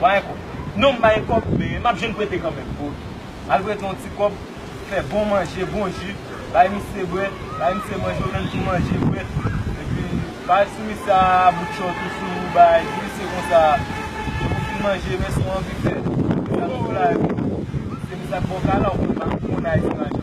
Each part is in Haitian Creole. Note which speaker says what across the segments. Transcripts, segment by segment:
Speaker 1: Ba yon kòb. Non m ba yon kòb
Speaker 2: men m ap jwenn prete kanmenm pou li. M al prete yon ti
Speaker 1: kòb, fè bon manje, bon ji, bay misye bwè, bay misye manje, ou menm tou manje, bwè. Epi, bay ti misye a bout chòt ou si ou bay, di misye konsa, depi ou fin manje, men si ou anvi fè, ou di a misye la, epi, se misye a k ba w kay la, ou konn pa konn Ayiti lajan.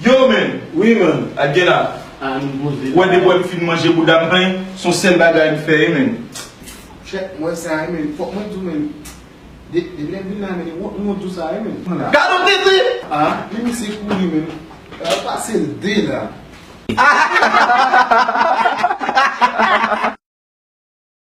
Speaker 2: Yo men, wi man, a gen
Speaker 1: la,
Speaker 2: ou wè
Speaker 1: depi wè m fin manje
Speaker 2: bouda m plen, s on sèl bagay m fè ye men. Chè, m
Speaker 1: wè sa ye men, fòk mwen di w men, depi lè m vin la men, li wont m wont di w sa ye men. Gad on tete!
Speaker 2: A, li misye
Speaker 1: kouri men, yo pase l de la.